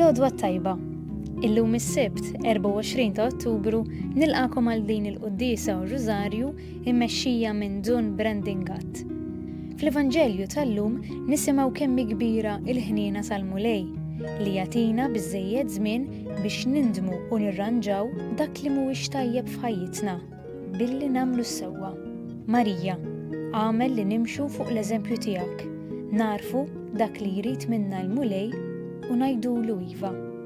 L-odwa tajba. Illum is-Sibt, 24 ta' Ottubru, nilqakom għal din il-Quddisa u Rużarju immexxija minn Dun Brandon Gatt. Fl-Evanġelju tal-lum nisimgħu kemm hi kbira l-ħniena tal-Mulej li jagħtina biżżejjed żmien biex nindmu u nirranġaw dak li mhuwiex tajjeb f'ħajjitna billi nagħmlu s-sewwa. Marija, agħmel li nimxu fuq l-eżempju tiegħek, nagħrfu dak li jrid minna l-Mulej u ngħidulu iva.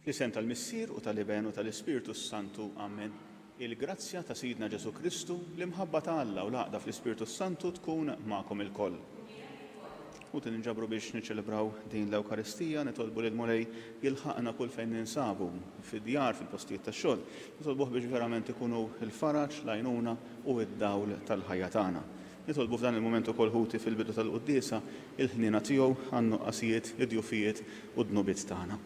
Fl-isem tal-Missier u tal-Iben u tal-Ispirtu s-Santu, amen. Il-grazzja ta' Sidna Ġesù Kristu, l-imħabba ta' Alla u l-għaqda fl-Ispirtu s-Santu tkun magħkom ilkoll. Ħuti ninġabru biex niċċelebraw din l-Ewkaristija, nitolbu lill-Mulej jilħaqna kull fejn ninsabu, fid-djar, fil-postijiet tax-xogħol, nitolbuh biex verament ikun hu l-faraġ, l-għajnuna u d-dawl tal-ħajja tagħna. Nitolbu f'dan il-mument ukoll, ħuti, fil-bidu tal-quddiesa, il-ħniena tiegħu għan-nuqqasijiet, id-djufijiet u d-dnubiet tagħna.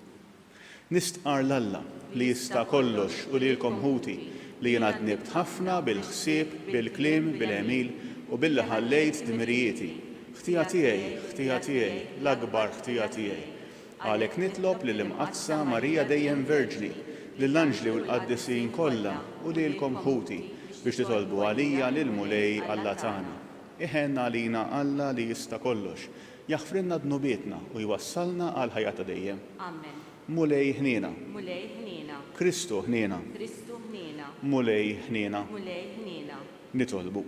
Nistqarr 'l Alla, li jista' kollox, u lilkom ħuti, li jiena dnibt ħafna bil-ħsieb, bil-kliem, bil-għemil, u billi ħallejt dmirijieti. Ħtija tiegħi, ħtija tiegħi, l-akbar ħtija tiegħi! Għalhekk nitlob lill-Imqaddsa Marija Dejjem Verġni, lill-anġli u l-qaddisin kollha, u lilkom ħuti, biex titolbu għalija lill-Mulej Alla tagħna. Iħenn għalina Alla li jista' kollox, Jaħfrilna dnubietna u jwassalna għal ħajja ta' dejjem. Amen. Mulej ħniena. Mulej ħniena. Kristu ħniena. Kristu ħniena. Mulej ħniena. Mulej ħniena. Nitolbu.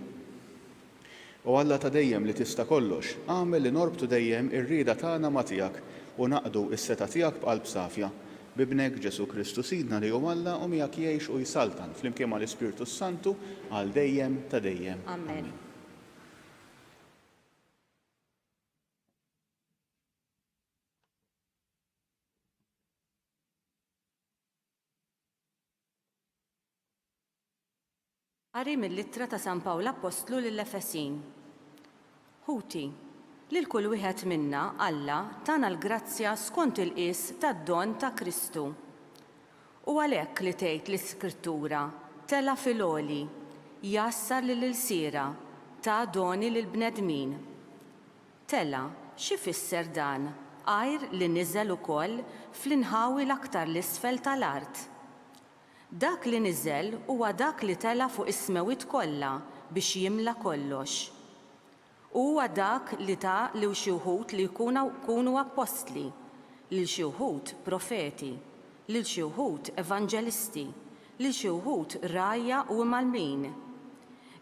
O Alla ta' dejjem li tista' kollox, agħmel li norbtu dejjem ir-rieda tagħna ma' tiegħek u naqdu s-setgħa tiegħek b'qalb safja. B'Ibnek Ġesù Kristu Sidna li hu Alla u miegħek jgħix u jsaltan flimkien mal-Ispirtu s-Santu għal dejjem ta' dejjem. Amen. Qari mill-Ittra ta' San Pawl Appostlu lill-Efesin. Ħuti, lil kull wieħed minna Alla tana l-grazzja skont il-qies tad-don ta' Kristu. U għalhekk li tgħid l-Iskrittura, Tela' fil-għoli, jgħassar lill-ilsiera, ta doni lill-bnedmin. Tela', x'ifisser dan għajr li niżel ukoll fl-inħawi l-aktar 'l isfel ta' l-art? Dak li niżel huwa dak li tela' fuq is-smewwiet kollha biex jimla kollox. Huwa dak li ta lil xi wħud li jkunu appostli, lil xi wħud profeti, lil xi wħud evanġelisti, lil xi wħud rgħajja u imgħallmin.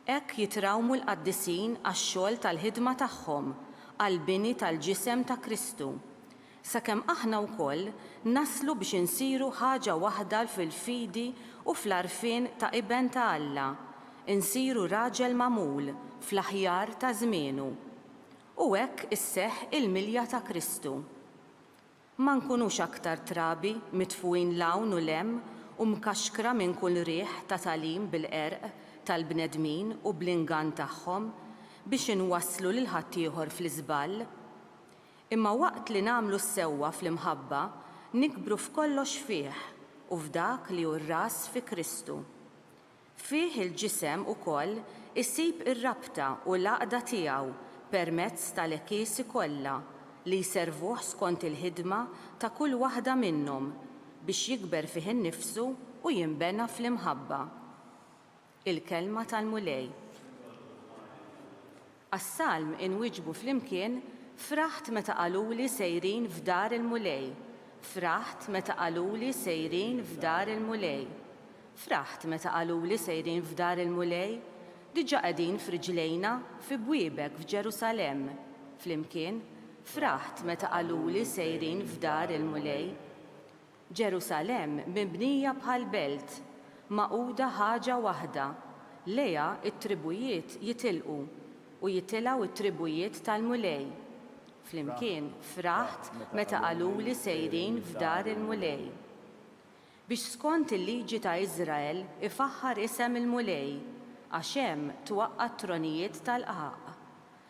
Hekk jitrawmu l-qaddisin għax-xogħol tal-ħidma tagħhom għall-bini tal-ġisem ta' Kristu. Sakemm aħna wkoll naslu biex insiru ħaġa waħda fil-fidi u fl-għarfien ta' Iben ta' Alla, insiru raġel magħmul fl-aħjar ta' żmienu. U hekk isseħħ il-milja ta' Kristu. Ma nkunux aktar trabi mitfugħin 'l hawn u 'l hemm u mkaxkra minn kull riħ ta' tagħlim bil-qerq tal-bnedmin u bl-ingann tagħhom biex inwasslu lil ħaddieħor fl-iżball. Imma waqt li nagħmlu s-sewwa fl-imħabba, nikbru f'kollox fih u f'Dak li hu r-Ras, fi Kristu. Fih il-ġisem ukoll isib ir-rabta u l-għaqda tiegħu permezz tal-Ekkisi kollha li jservuh skont il-ħidma ta' kull waħda minnhom biex jikber fih innifsu u jinbena fl-imħabba. Il-Kelma tal-Mulej. Għas-salm inwieġbu flimkien, Fraħt meta qaluli sejrin f'dar il-Mulej, fraħt meta qaluli sejrin f'dar il-Mulej, fraħt meta qaluli sejrin f'dar il-Mulej, diġà qegħdin f'riġlejna fi bwiebek f'Ġerusalemm, flimkien, Fraħt meta qaluli sejrin f'dar il-Mulej. Ġerusalemm mibnija bħal belt, magħquda ħaġa waħda, lejha t-tribujiet jitilqu, u jitilgħu t-tribujiet tal-Mulej. Flimkien fraħt meta qaluli sejrin f'dar il-Mulej. Biex skont il-liġi ta' Iżrael ifaħħar isem il-Mulej, għax hemm twaqqa' t-tronijiet tal-qgħaq.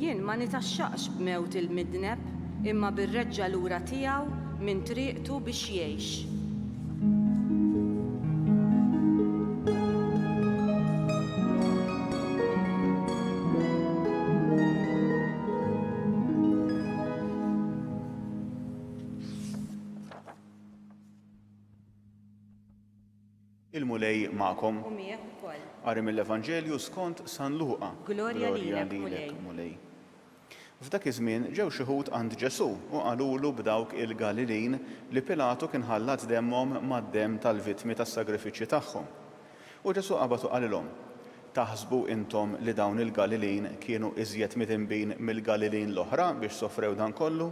Jien ma nitgħaxxaqx b'mewt il-midneb, imma bir-reġgħa lura tiegħu minn triqtu biex jgħix. Il-Mulej magħkom. U miegħek ukoll. Qari mill-Evanġelju skont San Luqa. Glorja lilek, Mulej. F'dak iż-żmien ġew xi Lhud għand Ġesù u qalulu b'dawk il-Galilin li Pilatu kien ħallat demmhom mad-demm tal-vittmi tas-sagrifiċċji tagħhom. U Ġesù qabad u qalilhom, Taħsbu intom li dawn il-Galilin kienu iżjed midinbin mill-Galilin l-oħra biex sofrew dan kollu?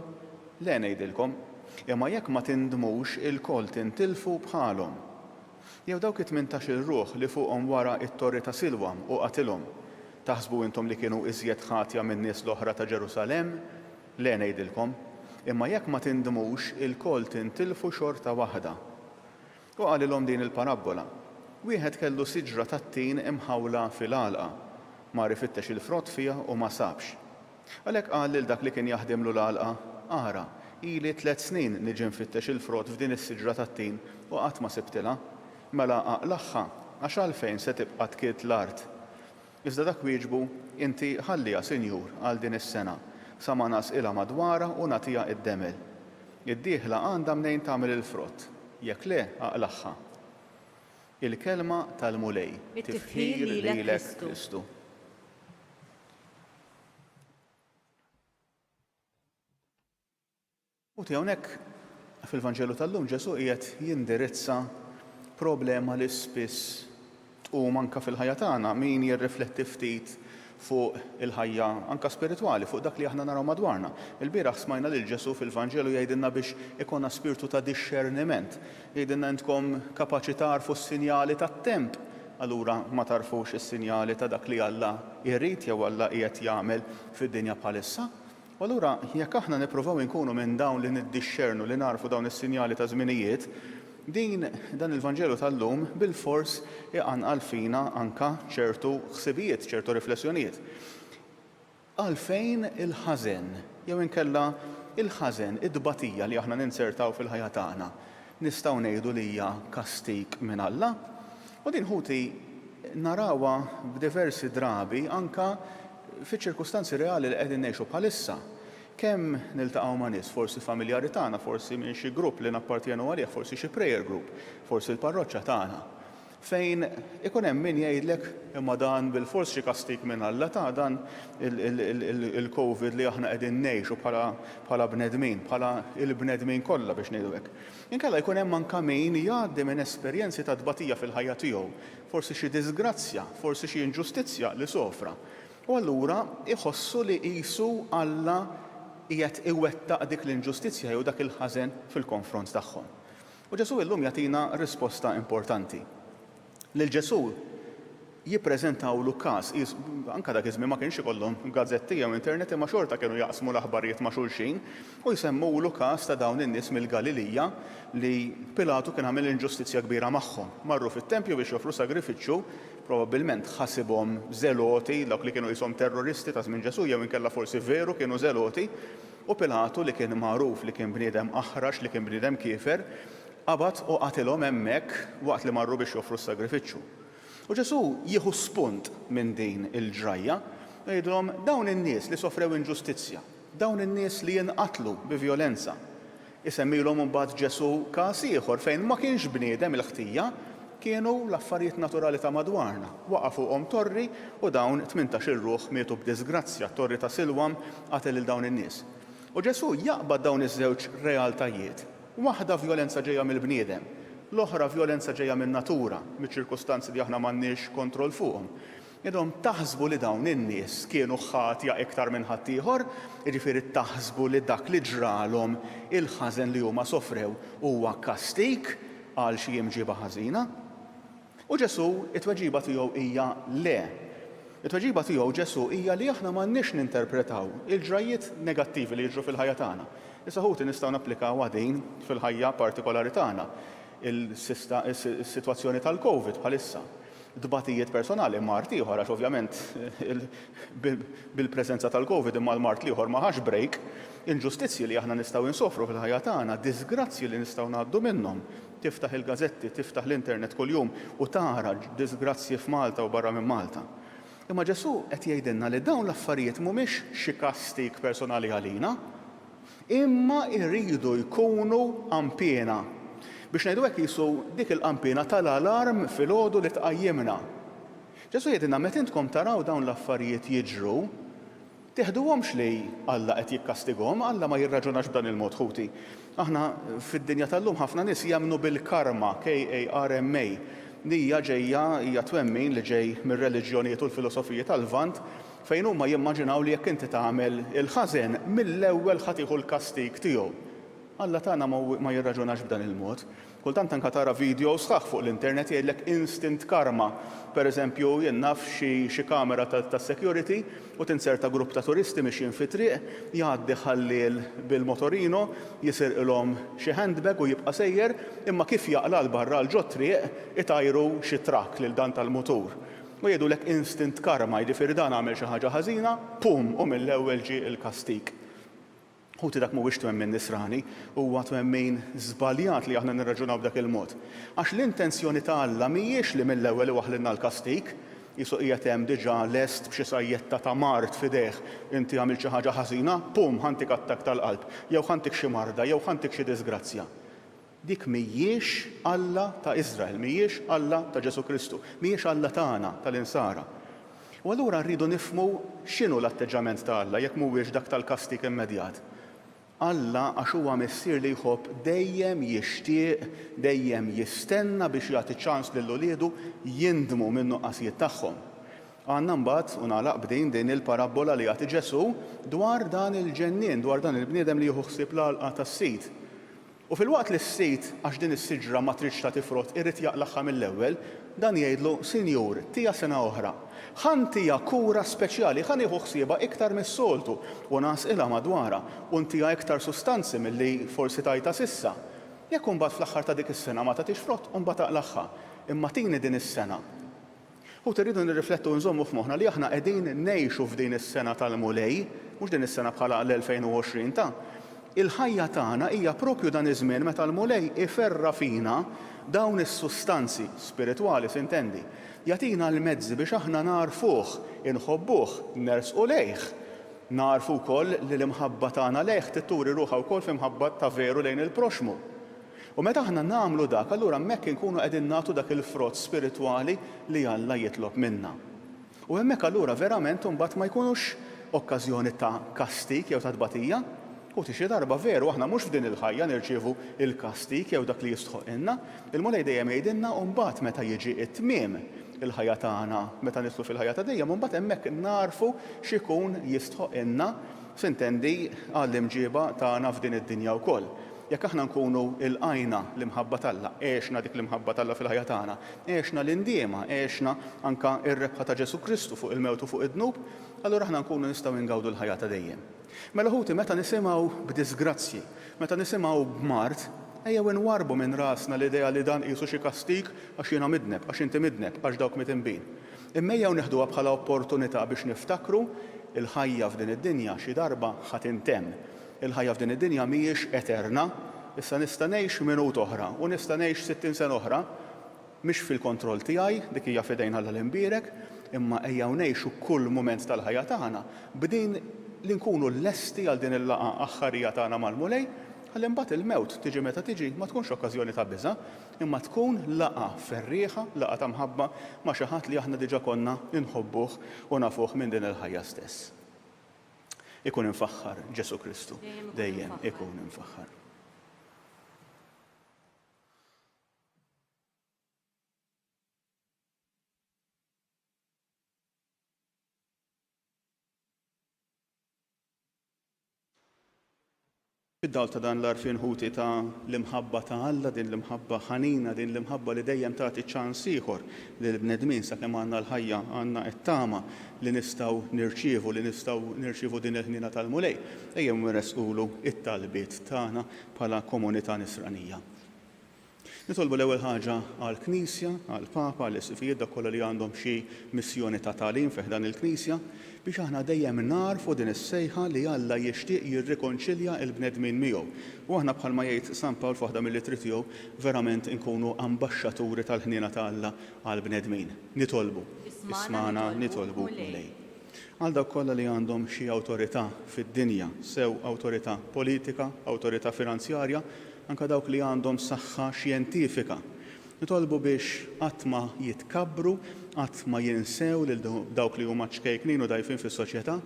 Le, ngħidilkom, imma jekk ma tindmux ilkoll tintilfu bħalhom. Jew dawk it-tmintax-il ruħ li fuqhom wara t-torri ta' Silwam u qatilhom, taħsbu intom li kienu iżjed ħatja min-nies l-oħra ta' Ġerusalemm? Le, ngħidilkom, imma jekk ma tindmux ilkoll tintilfu xorta waħda. U qalilhom din il-parabbola, Wieħed kellu siġra tat-tin imħawla fil-għalqa. Mar ifittex il-frott fiha u ma sabx. Għalhekk qal lil dak li kien jaħdimlu l-għalqa, 'Ara, ili tliet snin niġi nfittex il-frott f'din is-siġra tat-tin u qatt ma sibtilha. Mela aqlagħha, għax għalfejn se tibqa' tkidd l-art? Iżda dak wieġbu, Inti ħalliha, sinjur, għal din is-sena, sa ma ngħasqilha madwarha u nagħtiha id-demel. Id-dieħla għandha mnejn tagħmel il-frott, jekk le, aqlagħha. Il-Kelma tal-Mulej. It-tifħir lilek Kristu. Ħuti, hawnhekk fil-Vanġelu tal-lum Ġesù qiegħed jindirizza problema li spiss tqum anke fil-ħajja tagħna. Min jirrifletti ftit fuq il-ħajja anke spiritwali, fuq dak li aħna naraw madwarna? Ilbieraħ smajna lil Ġesù fil-Vanġelu jgħidilna biex ikollna spirtu ta' dixxerniment. Jgħidilna intkom kapaċi tagħrfu s-sinjali tat-temp. Allura ma tagħrfux is-sinjali ta' dak li Alla jrid jew Alla qiegħed jagħmel fid-dinja bħalissa? U allura jekk aħna nippruvaw inkunu minn dawn li niddixxernu li nagħrfu dawn is-sinjali ta' żminijiet, din, dan il-Vanġelu tal-lum bilfors iqanqal fina anke ċertu ħsibijiet, ċertu riflessjonijiet. Għalfejn il-ħażen? Jew inkella il-ħażen, it-tbatija li aħna ninzertaw fil-ħajja tagħna, nistgħu ngħidu li hija kastig minn Alla? U din ħuti narawha b'diversi drabi anke Fiċ-ċirkustanzi reali li qegħdin ngħixu bħalissa, kemm niltaqgħu ma' nies, forsi familjari tagħna, forsi minn xi grupp li nappartjenu għalih, forsi xi prayer group, forsi l-parroċċa tagħna, fejn ikun hemm min jgħidlek, imma dan bilfors xi kastig minn Alla ta, dan il-Covid li aħna qegħdin ngħixu bħala bnedmin, bħala l-bnedmin kollha biex ngħidu hekk. Inkella jkun hemm anka min jgħaddi minn esperjenzi ta' tbatija fil-ħajja tiegħu, forsi xi diżgrazzja, forsi xi inġustizzja li sofra, u allura jħossu li qisu Alla qiegħed iwettaq dik l-inġustizzja jew dak il-ħażen fil-konfront tagħhom. U Ġesù illum jagħtina risposta importanti. Lil Ġesù jippreżentawlu każ, anke dak iż-żmien ma kienx ikollhom gazzetti jew internet imma xorta kienu jaqsmu l-aħbarijiet ma' xulxin, U jsemmulu każ ta' dawn in-nies mill-Galilija li Pilatu kien għamel inġustizzja kbira magħhom. Marru fit-tempju biex joffru sagrifiċċju, probabbilment ħasibhom żeloti, dawk li kienu qishom terroristi ta' żmien Ġesù jew inkella forsi veru kienu żeloti, u Pilatu li kien magħruf li kien bniedem aħrax, li kien bniedem kiefer, qabad u qatilhom hemmhekk waqt li marru biex joffru s-sagrifiċċju. U Ġesù jieħu spunt minn din il-ġrajja u jgħidilhom, Dawn in-nies li sofrew inġustizzja, Dawn in-nies li jinqatlu bi vjolenza. Isemmilhom imbagħad Ġesù każ ieħor fejn ma kienx bniedem il-ħtija, kienu l-affarijiet naturali ta' madwarna. Waqa' fuqhom torri u dawn tmintax-il ruħ mietu b'diżgrazzja, t-torri ta' Silwam qatel lil dawn in-nies. U Ġesù jaqbad dawn iż-żewġ realtajiet, waħda vjolenza ġejja mill-bniedem, l-oħra vjolenza ġejja min-natura, miċ-ċirkustanzi li aħna m'għandniex kontroll fuqhom. Intom taħsbu li dawn in-nies kienu ħatja iktar minn ħaddieħor? Jiġifieri taħsbu li dak li ġralhom, il-ħażen li huma sofrew, huwa kastig għal xi imġieba ħażina? U Ġesù, it-tweġiba tiegħu hija le. It-tweġiba tiegħu Ġesù hija li aħna m'għandniex ninterpretaw il-ġrajjiet negattivi li jiġru fil-ħajja tagħna. Issa ħuti nistgħu napplikawha din fil-ħajja partikolari tagħna, is-sitwazzjoni tal-Covid bħalissa. tbatijiet personali, mard ieħor, għax ovvjament bil-preżenza tal-Covid imma l-mard l-ieħor ma ħax break, inġustizzji li aħna nistgħu insofru fil-ħajja tagħna, diżgrazzji li nistgħu ngħaddu minnhom. Tiftaħ il-gażetti, tiftaħ l-internet kuljum u tara diżgrazzji f'Malta u barra minn Malta. Imma Ġesù qed jgħidilna li dawn l-affarijiet mhumiex xi kastig personali għalina. Imma jridu jkunu qanpiena. Biex ngħidu hekk qisu dik il-qanpiena tal-alarm filgħodu li tqajjimna. Ġesù jgħidilna meta intkom taraw dawn l-affarijiet jiġru, tiħduhomx li Alla qed jikkastigahom, Alla ma jirraġunax b'dan il-mod ħuti. Aħna fid-dinja tal-lum ħafna nies jemmnu bil-karma, KARMA, li hija ġejja hija twemmin li ġej mir-reliġjonijiet u l-filosofiji tal-Lvant Fejn huma jimmaġinaw li jekk inti tagħmel il-ħażen, mill-ewwel ħa tieħu l-kastig tiegħu. Alla tagħna ma jirraġunax b'dan il-mod. Kultant anke tara vidjow sħaħ fuq l-internet jgħidlek instant karma. Pereżempju, jien naf xi kamera tas-security u tinserta grupp ta' turisti mixjin fit-triq, jgħaddi ħalliel bil-motorino, jisirqilhom xi handbag u jibqa' sejjer, imma kif jaqla' 'l barra 'l ġot-triq, itajru xi truck lil dan tal-mutur. U jgħidulek instant karma, jiġifieri dan għamel xi ħaġa ħażina, pum, u mill-ewwel ġie l-kastig. Ħuti dak mhuwiex twemmin Nisrani, huwa twemmin żbaljat li aħna nirraġunaw b'dak il-mod. Għax l-intenzjoni ta' Alla mhijiex li mill-ewwel iwaħħlilna l-kastig, qisu qiegħed hemm diġà lest b'xi sajjetta ta' mard f'idejh, inti għamilt xi ħaġa ħażina, pum, ħa ntik attakk tal-qalb, jew ħa ntik xi marda, jew ħa ntik xi diżgrazzja. Dik mhijiex Alla ta' Iżrael, mhijiex Alla ta' Ġesù Kristu, mhijiex Alla tagħna tal-Insara. U allura rridu nifhmu x'inhu l-atteġġament ta' Alla jekk mhuwiex dak tal-kastig immedjat. Alla għax huwa Missier li jħobb dejjem jixtieq, dejjem jistenna biex jagħti ċans lil uliedu jindmu min-nuqqasijiet tagħhom. Għandna mbagħad, u nagħlaq b'din, din il-parabbola li jagħti Ġesù dwar dan il-ġennien, dwar dan il-bniedem li jieħu ħsieb l-għalqa tas-sid. U filwaqt li s-sid, għax din is-siġra ma tridx tagħti frott, irid jaqlagħha mill-ewwel, dan jgħidlu, Sinjur, ttiha sena oħra. Ħa ntiha kura speċjali, ħa nieħu ħsiebha iktar mis-soltu, u ngħasqilha madwarha, u ntiha iktar sustanzi milli forsi tajtha s'issa. Jekk imbagħad fl-aħħar ta' dik is-sena ma tagħtix frott, imbagħad aqlagħha. Imma tini din is-sena. Ħuti, rridu nirriflettu u nżommu f'moħħna li aħna qegħdin ngħixu f'din is-sena tal-Mulej, mhux din is-sena bħala l-2020 ta'. Il-ħajja tagħna hija proprju dan iż-żmien meta l-Mulej iferra' fina dawn is-sustanzi, spiritwali s'intendi, jagħtina l-mezzi biex aħna nagħrfuh, inħobbuh, nersqu lejh. Nagħrfu wkoll li l-imħabba tagħna lejh trid turi ruħha wkoll f'imħabba ta' veru lejn il-proxxmu. U meta aħna nagħmlu dak, allura hemmhekk inkunu qegħdin nagħtu dak il-frott spiritwali li Alla jitlob minna. U hemmhekk allura verament imbagħad ma jkunux okkażjoni ta' kastig jew ta' tbatija. U ti xi darba veru aħna mhux f'din il-ħajja nirċievu l-kastig jew dak li jistħoqqilna. Il-Mulej dejjem jgħidilna u mbagħad meta jiġi t-tmiem il-ħajja tagħna, meta nidħlu fil-ħajja ta' dejjem, imbagħad hemmhekk nagħrfu x'ikun jistħoqqilna, sintendi, għall-imġieba tagħna f'din id-dinja wkoll. Jekk aħna nkunu lqajna l-imħabba t'Alla, għexna dik l-imħabba t'Alla fil-ħajja tagħna, għexna l-indiema, għexna anke r-rebħa ta' Ġesù Kristu fuq il-mewt u fuq id-dnub, allura aħna nkunu nistgħu ingawdu l-ħajja ta' dejjem. Mela ħuti, meta nisimgħu b'diżgrazzji, meta nisimgħu b'mard, ejjew inwarrbu minn rasna l-idea li dan qisu xi kastig għax jiena midneb, għax inti midneb, għax dawk midinbin. Imma ejjew neħduha bħala opportunità biex niftakru l-ħajja f'din id-dinja xi darba ħa tintemm. Il-ħajja f'din id-dinja mhijiex eterna. Issa nista' ngħix minut oħra u nista' ngħix sittin sena oħra. Mhix fil-kontroll tiegħi, dik hija f'idejn Alla l-Imbierek, imma ejjew ngħixu kull mument tal-ħajja tagħna b'din li nkunu lesti għal din il-laqgħa aħħarija tagħna mal-Mulej, ħalli mbagħad il-mewt, tiġi meta tiġi, ma tkunx okkażjoni ta' biża', imma tkun laqgħa ferrieħa, laqgħa ta' mħabba ma' xi ħadd li aħna diġà konna inħobbuh u nafuh minn din il-ħajja stess. Ikun imfaħħar Ġesu Kristu. Dejjem ikun imfaħħar. Fid-dawl ta' dan l-għarfien ħuti ta' l-imħabba ta' Alla, din l-imħabba ħanina, din l-imħabba li dejjem tagħti ċans ieħor lill-bnedmin sakemm għandna l-ħajja, għandna t-tama li nistgħu nirċievu, li nistgħu nirċievu din il-ħniena tal-Mulej, ejjew inressqulu t-talbiet tagħna bħala komunità Nisranija. Nitolbu l-ewwel ħaġa għall-Knisja, għall-Papa, għall-Isqfijiet, dawk kollha li għandhom xi missjoni ta' tagħlim fi ħdan il-Knisja, biex aħna dejjem nagħrfu din is-sejħa li Alla jixtieq jirrikonċilja l-bnedmin miegħu. U aħna bħalma jgħid San Pawl f'waħda mill-ittri tiegħu, verament inkunu ambaxxaturi tal-ħniena ta' Alla għall-bnedmin. Nitolbu. Ismagħna, nitolbu, Mulej. Għal dawk kollha li għandhom xi awtorità fid-dinja, sew awtorità politika, awtorità finanzjarja, anke dawk li għandhom saħħa xjentifika, nitolbu biex qatt ma jitkabbru, qatt ma jinsew lil dawk li huma ċkejknin u dgħajfin fis-soċjetà,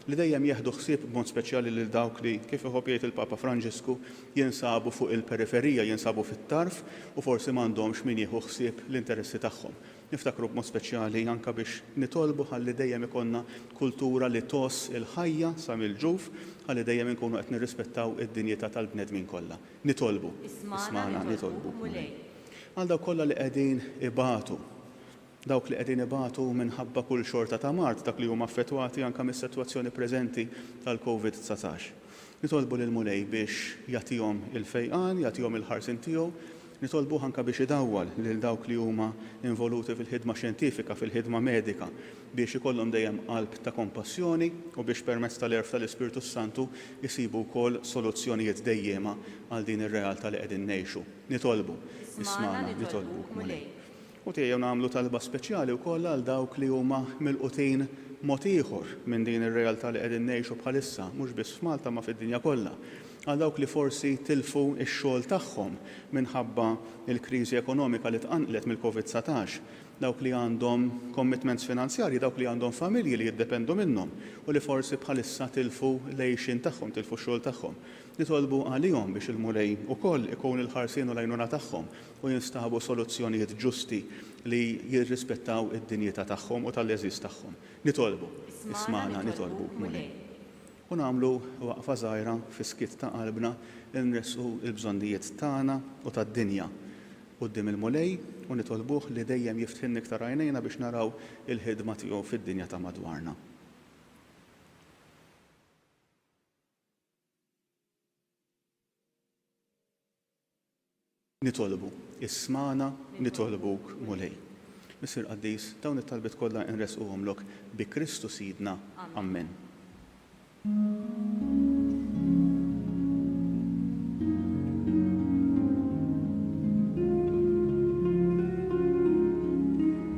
li dejjem jieħdu ħsieb b'mod speċjali lil dawk li, kif iħobb jgħid il-Papa Franġisku, jinsabu fuq il-periferija, jinsabu fit-tarf u forsi m'għandhomx min jieħu ħsieb l-interessi tagħhom. Niftakru b'mod speċjali anke biex nitolbu ħalli dejjem ikollna kultura li tgħożż il-ħajja sa mill-ġuf, ħalli dejjem inkunu qed nirrispettaw id-dinjità tal-bnedmin kollha. Nitolbu. Ismagħna, nitolbu, Mulej. Għal dawk kollha li qegħdin ibatu. Dawk li qegħdin ibatu minħabba kull xorta ta' mard, dak li huma affettwati anke mis-setwazzjoni preżenti tal-Covid dsatax. Nitolbu lill-Mulej biex jagħtihom il-fejqan, jagħtihom il-ħarsien tiegħu, Nitolbuh anke biex idawwal lil dawk li huma involuti fil-ħidma xjentifika, fil-ħidma medika, biex ikollhom dejjem qalb ta' kompassjoni u biex permezz tal-għerf tal-Ispirtu s-Santu jsibu wkoll soluzzjonijiet dejjiema għal din ir-realtà li qegħdin ngħixu. Nitolbu, ismagħna, nitolbuk, Mulej. u tejjew nagħmlu talba speċjali wkoll għal dawk li huma milqutin mod ieħor minn din ir-realtà li qegħdin ngħixu bħalissa, mhux biss f'Malta ma fid-dinja kollha, għal dawk li forsi tilfu x-xogħol tagħhom minħabba l-kriżi ekonomika li tqanqlet mill-Covid satax, dawk li għandhom commitments finanzjarji, dawk li għandhom familji li jiddependu minnhom u li forsi bħalissa tilfu l-għixien tagħhom, tilfu x-xogħol tagħhom. Nitolbu għalihom biex il-Mulej ukoll ikun il-ħarsien u l-għajnuna tagħhom. u jinstabu soluzzjonijiet ġusti li jirrispettaw id-dinjità tagħhom u tal-għeżież tagħhom. Nitolbu, ismagħna nitolbuk, Mulej. U nagħmlu waqfa żgħira fis-skiet ta' qalbna li nressqu l-bżonnijiet tagħna u tad-dinja quddiem il-Mulej u nitolbuh li dejjem jiftħilna iktar għajnejna biex naraw il-ħidma tiegħu fid-dinja ta' madwarna. Nitolbu, ismagħna, nitolbuk, Mulej. Missier qaddis, dawn it-talbiet kollha nressquhomlok bi Kristu Sidna. Ammen.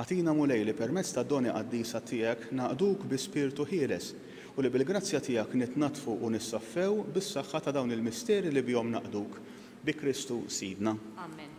Agħtina, Mulej, li permezz tad-doni qaddisa tiegħek naqduk bi spirtu ħieles u li bil-grazzja tiegħek nitnaddfu u nissaffew bis-saħħa ta' dawn il-misteri li bihom naqduk. Bi Kristu Sidna. Amen.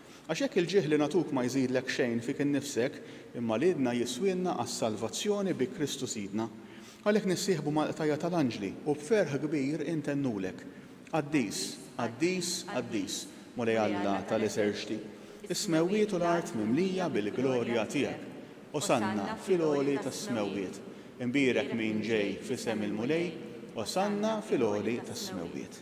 Għax jekk il-ġieħ li nagħtuk ma jżidlek xejn fik innifsek, imma li idna jiswielna għas-salvazzjoni bi Kristu Sidna. Għalhekk nissieħbu mal-qtajja' tal-anġli u b'ferħ kbir intennulek, Qaddis, qaddis, qaddis, Mulej Alla tal-eserċti, is-smewwiet u l-art mimlija bil-glorja tiegħek. Osanna fil-għoli tas-smewwiet. Imbierek min ġej f'isem il-Mulej, Osanna fil-għoli tas-smewwiet.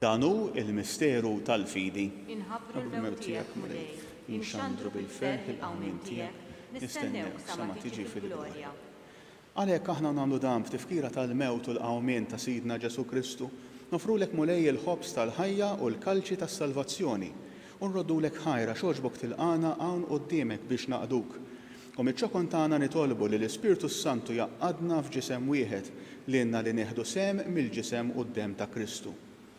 Dan hu l-misteru tal-fidi. Inħabbru l-mewt tiegħek, Mulej, inxandru bil-ferħ il-qawmien tiegħek, nistennewk sa ma tiġi fil-glorja. Għalhekk aħna nagħmlu dan f'tifkira tal-mewt u l-qawmien ta' Sidna Ġesù Kristu, noffrulek Mulej il-ħobż tal-ħajja u l-kalċi tas-salvazzjoni, u nroddulek ħajr għax għoġbok tilqagħna hawn quddiemek biex naqduk. U miċ-ċokon tagħna nitolbu li l-Ispirtu s-Santu jgħaqqadna f'ġisem wieħed, lilna li nieħdu sehem mill-ġisem u d-demm ta' Kristu.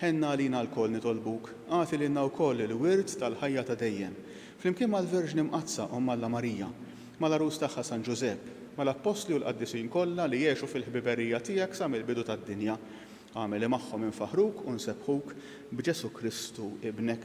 Ħenna għalina lkoll nitolbuk, agħti lilna wkoll il-wirt tal-ħajja ta' dejjem, flimkien mal-Verġni Mqaddsa Omm Alla Marija, mal-Għarus tagħha San Ġużepp, mal-Appostli u l-Qaddisin kollha li għexu fil-ħbiberija tiegħek sa mill-bidu tad-dinja. Agħmel li magħhom infaħħruk u nsebbħuk b'Ġesù Kristu Ibnek.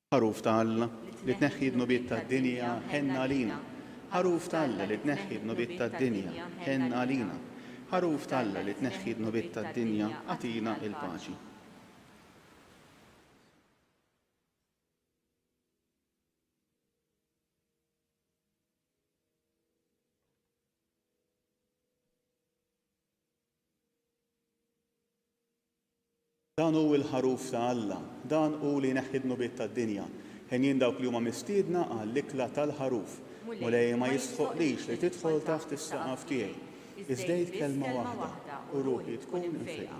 Ħaruf ta' Alla, li tneħħi d-dnubiet tad-dinja, ħenn għalina. Ħaruf ta' Alla, li tneħħi d-dnubiet tad-dinja, ħenn għalina. Ħaruf ta' Alla, li tneħħi d-dnubiet tad-dinja, agħtina l-paċi. Dan hu l-Ħaruf ta' Alla, dan hu li jneħħi d-dnubiet tad-dinja. Henjin dawk li huma mistiedna għall-ikla tal-Ħaruf. Mulej, ma jistħoqqlix li tidħol taħt is-saqaf tiegħi. Iżdejt kelma waħda, u ruħi tkun imfiegħa.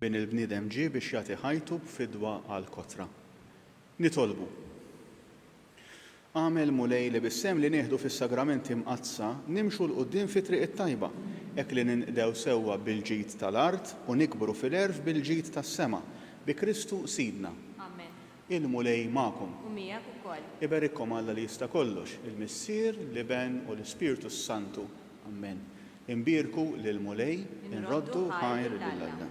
bin il-bniedem ġie biex jagħti ħajtu b'fidwa għal kotra. Nitolbu. Agħmel, Mulej, li bis-sehem li nieħdu fis-Sagramenti Mqaddsa nimxu 'l quddiem fit-triq it-tajba, hekk li ninqdew sewwa bil-ġid ta' l-art u nikbru fil-għerf bil-ġid tas-sema, bi Kristu Sidna. Amen. Il-Mulej magħkom. U miegħek ukoll. Iberikkom Alla li jista' kollox, il-Missier, l-Iben u l-Ispirtu s-Santu. Amen. Inbierku lill-Mulej, inroddu ħajr lil Alla.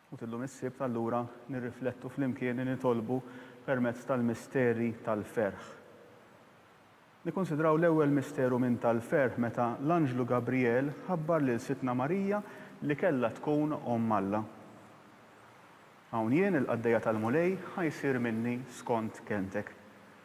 U t'illum is-Sibt allura nirriflettu flimkien li nitolbu permezz tal-misteri tal-ferħ. Nikkunsidraw l-ewwel misteru minn tal-ferħ meta l-anġlu Gabrijel ħabbar lil Sidtna Marija li kellha tkun Omm Alla. Hawn jien, il-qaddejja tal-Mulej, ħa jsir minni skont kelmtek.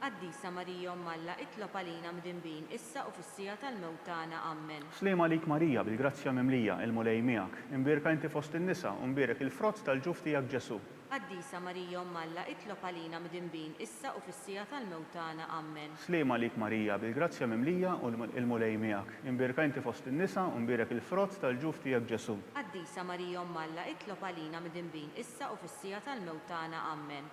Qaddisa Marija Omm Alla, itlob għalina mdinbin, issa u fis-siegħa tal-mewt tagħna. Ammen. Sliem għalik Marija, bil-grazzja mimlija, il-Mulej miegħek. Imbierka inti fost in-nisa, u mbierek il-frott tal-ġuf tiegħek Ġesù. Qaddisa Marija Omm Alla, itlob għalina mdinbin, issa u fis-siegħa tal-mewt tagħna. Ammen. Sliem għalik Marija, bil-grazzja mimlija, il-Mulej miegħek. Imbierka inti fost in-nisa, u mbierek il-frott tal-ġuf tiegħek Ġesù. Qaddisa Marija Omm Alla, itlob għalina mdinbin, issa u fis-siegħa tal-mewt tagħna. Ammen.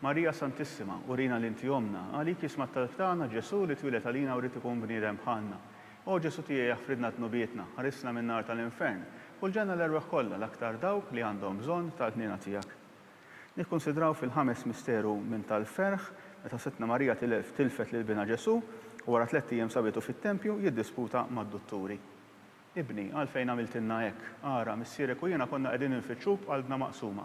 Marija Santissima, urina li inti ommna. Għalik jisma' t-talb tagħna Ġesù li twieled għalina u ried ikun bniedem bħalna. O Ġesù tiegħi aħfridna dnubietna, ħarisna min-nar tal-infern, u l-ġenna l-erwieħ kollha, l-aktar dawk li għandhom bżonn tal-ħniena tiegħek. Nikkunsidraw fil-ħames misteru minn tal-ferħ, meta Sidtna Marija tilfet lil binha Ġesù u wara tlett ijiem sabitu fit-tempju jiddisputa mad-dutturi. Ibni, għalfejn għamiltilna hekk? Ara, missierek u jiena konna qegħdin infittxuk b'qalbna maqsuma.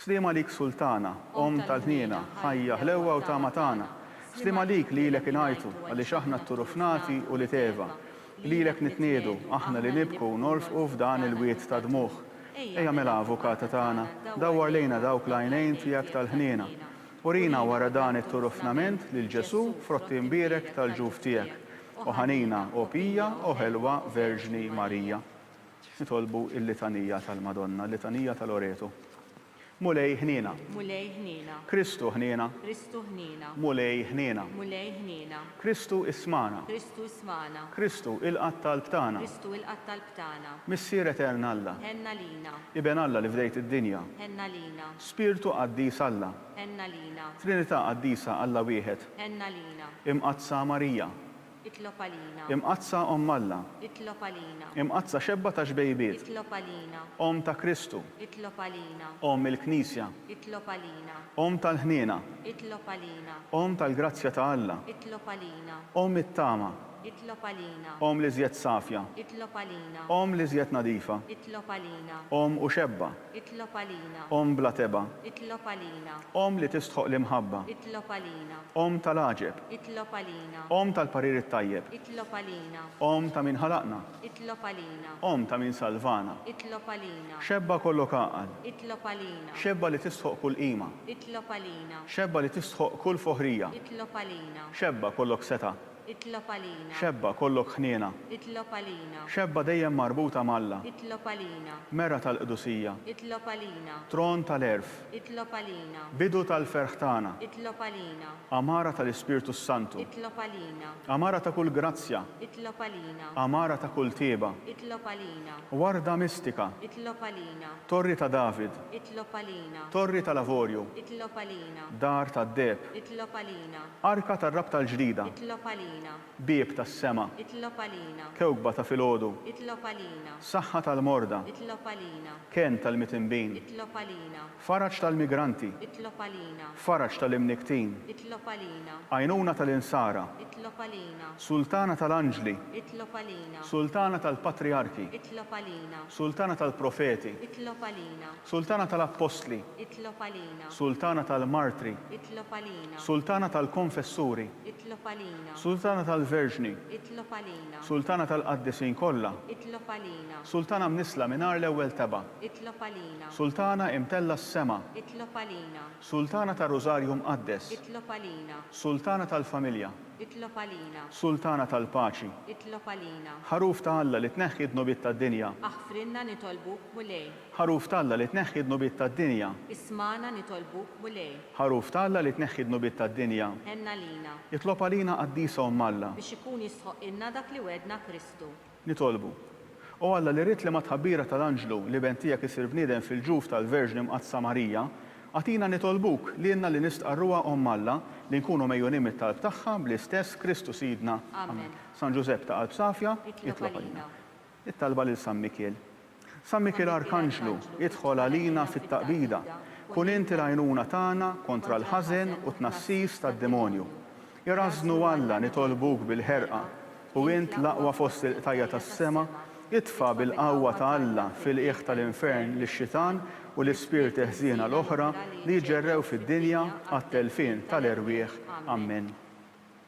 Sliem għalik Sultana, Omm tal-ħniena, Ħajja, ħlewwa u tama tagħna. Sliem għalik li lilek ingħajtu, għaliex aħna t-turufnati u l-iteva. Lilek nitniedu, aħna li nibku u norfqu f'dan il-wied ta' dmugħ. Ejja mela Avukata tagħna, dawwar lejna dawk l-għajnejn tiegħek tal-ħniena. Urina wara dan it-turufnament lil Ġesù frott imbierek tal-ġuf tiegħek. O ħanina, o pija, o ħelwa Verġni Marija. Nitolbu il-Litanija tal-Madonna, il-Litanija ta' Loreto. Mulej ħniena. Mulej ħniena. Kristu ħniena. Kristu ħniena. Mulej ħniena. Mulej ħniena. Kristu ismagħna. Kristu ismagħna. Kristu ilqa' t-talb tagħna. Kristu ilqa' t-talb tagħna. Missier Etern Alla. Ħenna lina. Iben Alla li fdejt id-dinja. Ħenna lina. Spirtu qaddis Alla. Ħenna lina. Trinità qaddisa Alla wieħed. Ħenna lina. Imqaddsa Marija. Itlob għalina. Imqaddsa Omm Alla. Itlob għalina. Imqaddsa Xebba tax-Xbejbiet. Itlob għalina. Omm ta' Kristu. Itlob għalina. Omm il-Knisja. Itlob għalina. Omm tal-ħniena. Itlob għalina. Omm tal-grazzja ta' Alla. Itlob għalina. Omm it-tama. Itlob għalina. Omm l-iżjed safja. Itlob għalina. Omm l-iżjed nadifa. Itlob għalina. Omm u Xebba. Itlob għalina. Omm bla tebgħa. Itlob għalina. Omm li tistħoq l-imħabba. Itlob għalina. Omm tal-għaġeb. Itlob għalina. Omm tal-parir it-tajjeb. Itlob għalina. Omm ta' min ħalaqna. Itlob għalina. Omm ta' min salvana. Itlob għalina. Xebba kollok għaqal. Itlob għalina. Xebba li tistħoq kull qima. Itlob għalina. Xebba li tistħoq kull foħrija. Itlob għalina. Xebba kollok setgħa. Itlob għalina. Xebba, kollok ħniena. Itlob għalina. Xebba dejjem marbuta m'Alla. Itlob għalina. Mera tal-qdusija. Itlob għalina. Tron tal-għerf. Itlob għalina. Bidu tal-ferħ tagħna. Itlob għalina. Għamara tal-Ispirtu s-Santu. Itlob għalina. Għamara ta' kull grazzja. Itlob għalina. Għamara ta' kull tjieba. Itlob għalina. Warda mistika. Itlob għalina. Torri ta' David. Itlob għalina. Torri tal-avorju. Itlob għalina. Dar tad-deheb. Itlob għalina. Arka tar-rabta l-ġdida. Itlob għalina. Bieb tas-sema. Itlob għalina. Kewkba ta' filgħodu. Itlob għalina. Saħħa tal-morda. Itlob għalina. Kenn tal-mitinbin. Itlob għalina. Faraġ tal-migranti. Itlob għalina. Faraġ tal-imnikktin. Itlob għalina. Għajnuna tal-insara. Itlob għalina. Sultana tal-anġli. Itlob għalina. Sultana tal-patrijarki. Itlob għalina. Sultana tal-profeti. Itlob għalina. Sultana tal-Appostli. Itlob għalina. Sultana tal-Martri. Itlob għalina. Sultana tal-Konfessuri. Itlob għalina. Sultana tal-Verġni. Itlob għalina. Sultana tal-Qaddisin kollha. Itlob għalina. Sultana mnissla mingħajr l-ewwel tebgħa. Itlob għalina. Sultana imtellgħa s-sema. Itlob għalina. Sultana tar-Rużarju Mqaddes. Itlob għalina. Sultana tal-Familja. Itlob għalina. Sultana tal-Paċi. Itlob għalina. Ħaruf ta' Alla li tneħħi d-dnubiet tad-dinja. Aħfrilna nitolbuk, Mulej. Ħaruf t'Alla li tneħħi d-dnubiet tad-dinja. Ismagħna nitolbuk, Mulej. Ħaruf t'Alla li tneħħi d-dnubiet tad-dinja. Ħenna lina. Itlob għalina Qaddisa Omm Alla. Biex ikun jistħoqqilna dak li wegħdna Kristu. Nitolbu. O Alla li ridt li mat-tħabbira tal-anġlu l-Iben tiegħek isir bniedem fil-ġuf tal-Verġni Mqaddsa Marija, agħtina nitolbuk, lilna li nistqarruha Omm Alla, li nkunu megħjunin mit-talb tagħha, bl-istess Kristu Sidna. Amen. San Ġużepp ta' qalb safja, itlob għalina. It-talba lil San Mikiel. San Mikiel Arkanġlu, idħol għalina fit-taqbida. Kun int il-għajnuna tagħna kontra l-ħażen u t-tnassis tad-demonju. Irażżnu Alla nitolbuk bil-ħerqa, u int l-aqwa fost il-qtajja' tas-sema, itfa' bil-qawwa ta' Alla fil-qiegħ tal-infern lix-xitan u l-ispirti ħżiena l-oħra li jġerrew fid-dinja għat-telfien tal-erwieħ. Ammen.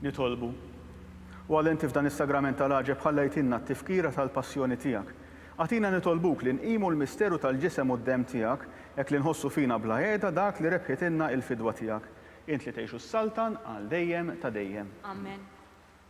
Nitolbu. U għal inti f'dan is-sagrament tal-għaġeb ħalla jtinna t-tifkira tal-passjoni tiegħek. Agħtina nitolbuk li nqimu l-misteru tal-ġisem u d-demm tiegħek hekk li nħossu fina bla għeda dak li rebħitilna il-fidwa tiegħek. Int li tgħix u ssaltan għal dejjem ta' dejjem. Amen.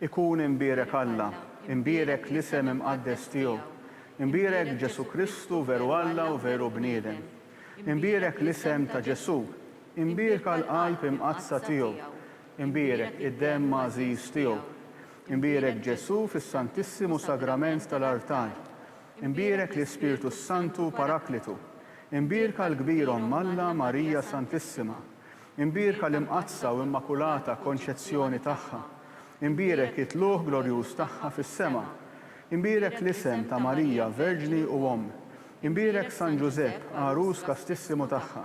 Ikun imbierek Alla, imbierek l-isem imqaddes tiegħu, imbierek Ġesù Kristu veru Alla u veru bniedem. Imbierek l-isem ta' Ġesù, imbierka l-qalb imqaddsa tiegħu, Imbierek id-demm għażiż tiegħu. Imbierek Ġesù fis-Santissimu Sagrament tal-artal. Imbierek l-Ispirtu s-Santu Paraklitu. Imbierka l-kbir Omm Alla Marija Santissima. Imbierka l-Imqaddsa u Immakulata Konċezzjoni tagħha. Imbierek it-tlugħ glorjuż tagħha fis-sema. Imbierek l-isem ta' Marija Verġni u Omm. Imbierek San Ġużepp, għarus kastissimu tagħha.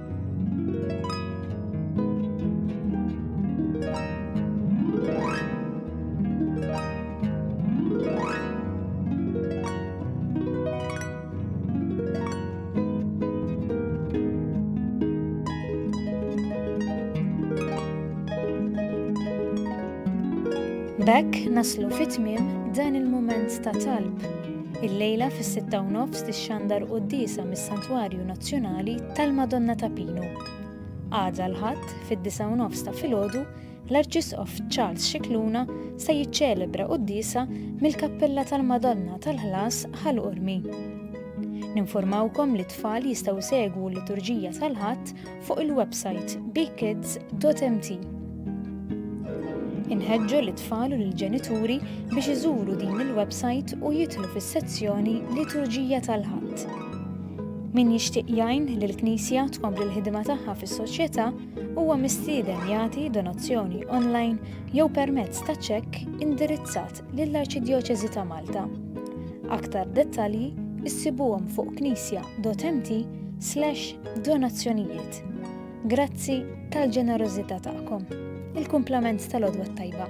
B'hekk naslu fi tmiem dan il-mument ta' talb. Il-lejla fis-sitta u nofs tixxandar quddiesa mis-Santwarju Nazzjonali tal-Madonna ta' Pinu. Għada l-Ħadd fid-disgħa u nofs ta' filgħodu l-Arċisqof Charles Scicluna se jiċċelebra quddiesa mill-Kappella tal-Madonna tal-Ħlas Ħal Qormi. Ninfurmawkom li t-tfal jistgħu jsegwu l-liturġija tal-Ħadd fuq il-websajt bkids.mt. Inħeġġu lit-tfal u lill-ġenituri biex iżuru din il-websajt u jidħlu fis-sezzjoni Liturġija tal-Ħadd. Min jixtieq jgħin li l-Knisja tkompli l-ħidma tagħha fis-soċjetà huwa mistieden jagħti donazzjoni online jew permezz ta' ċekk indirizzat lill-Arċidjoċesi ta' Malta. Aktar dettalji issibuhom fuq knisja.mt slash donazzjonijiet. Grazzi tal-ġenerożità tagħkom. Il-kumplament tal-għodwa t-tajba.